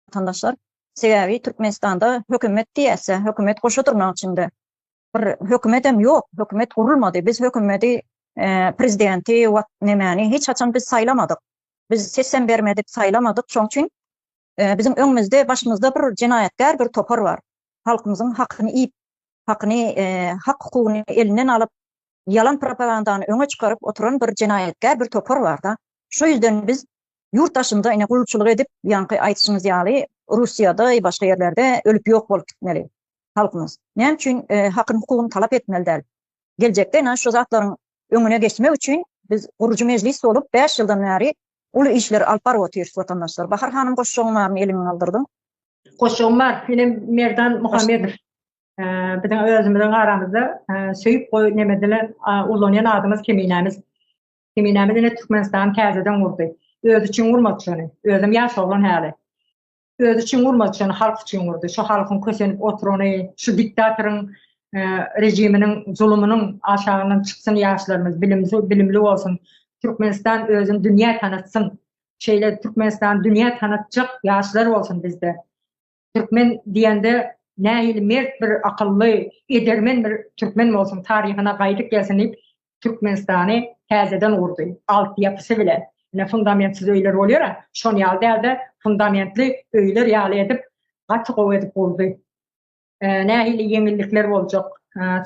watandaşlar. Sebäbi Türkmenistanda hökümet diýäse, hökümet goşa durnagyň içinde. Bir hökümetem ýok, hökümet gurulmady. Biz hökümeti, prezidenti, wat nemäni hiç haçan biz saýlamadyk. Biz sesem bermedik, saýlamadyk. Şoň üçin biziň öňümizde, başymyzda bir jenaýatkär bir topar bar. Halkymyzyň hakyny iýip, hakyny, hak-hukugyny elinden alyp, ýalan propagandany öňe çykaryp oturan bir jenaýatkär bir topar bar-da. Şu ýüzden biz Ýurt daşynda ine gulçulyk edip ýaňky aýdyşyňyz ýaly Russiýada ýa başga ýerlerde ölüp ýok bolup gitmeli halkymyz. Näme üçin hakyny hukugyny talap etmeli däl. Geljekde ine şu zatlaryň öňüne geçmek üçin biz gurujy mejlis bolup bäş ýyldan bäri uly işleri alyp baryp otyrys watandaşlar. Bahar hanym goşjagyň barmy eliňi galdyrdyň. Goşjagym bar ine Merdan Muhammedow biziň özümiziň aramyzda söýüp goý neme dilen ullanýan adymyz Keminämiz. Zeminämiz ine Türkmenistany täzeden gurdy. Özi üçin gurmady şony. Özem ýaş oglan häli. Özi üçin gurmady şony, halk üçin gurdy. Şu halkyň kösenip oturany, şu diktatoryň e, rejiminiň zulumynyň aşagyndan çyksyn ýaşlarymyz, bilimli, bilimli bolsun. Türkmenistan özüni dünýä tanatsyn. Şeýle Türkmenistan dünýä tanatjak ýaşlar bolsun bizde. Türkmen diýende nähili mert bir akylly, edermen bir türkmen bolsun, taryhyna gaýdyp gelsin diýip, Türkmenistany täzeden gurdy. Altyýapysy bilen. Ine, fundamentsiz öýler bolýar-a, şon ýaly däl-de, fundamentli öýler ýaly edip, gaty gowy edip gurdy. Nähili ýeňillikler boljak,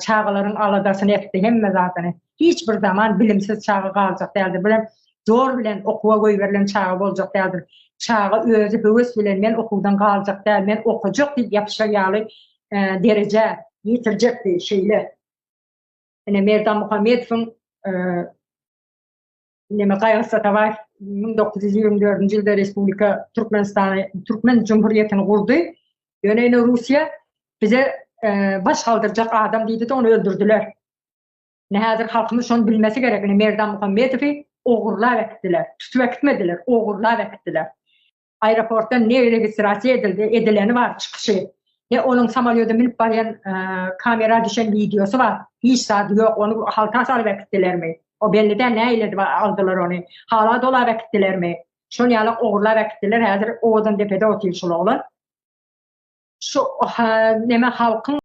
çagalaryň aladasyny etdi, hemme zadyny. Hiç bir zaman bilimsiz çaga galjak däldi. Bu hem zor bilen okuwa goýberilen çaga boljak däldir. Çaga özi höwes bilen men okuwdan galjak däl, men okajak diýip ýapyşar ýaly derejä ýetirjekdi. Şeýle ine Merdan Muhammedowyň Neme Gaýgy Satabaýew 1924-nji ýylda Respublika Türkmenistany Türkmen Jumhuriýetini gurdy. Ýöne ine Russiýa bize e, baş galdyrjak adam diýdi-de ony öldürdiler. Ine häzir halkymyz şony bilmesi gerek, ine Merdan Muhammedowy ogurlap äkitdiler, tutup äkitmediler, ogurlap äkitdiler. Aeroportdan ne registrasiýa edildi, edileni bar çykyşy. Ne onuň samalýoda münüp barýan kamera düşen wideosy bar. Hiç zady ýok, ony halka salyp äkitdilermi? O belli däl nähili edip aldylar ony. Hala dolap äkitdilermi? Şol ýaly ogurlap äkitdiler, häzir owadan depede otyr şol oglan. Şu neme halkyň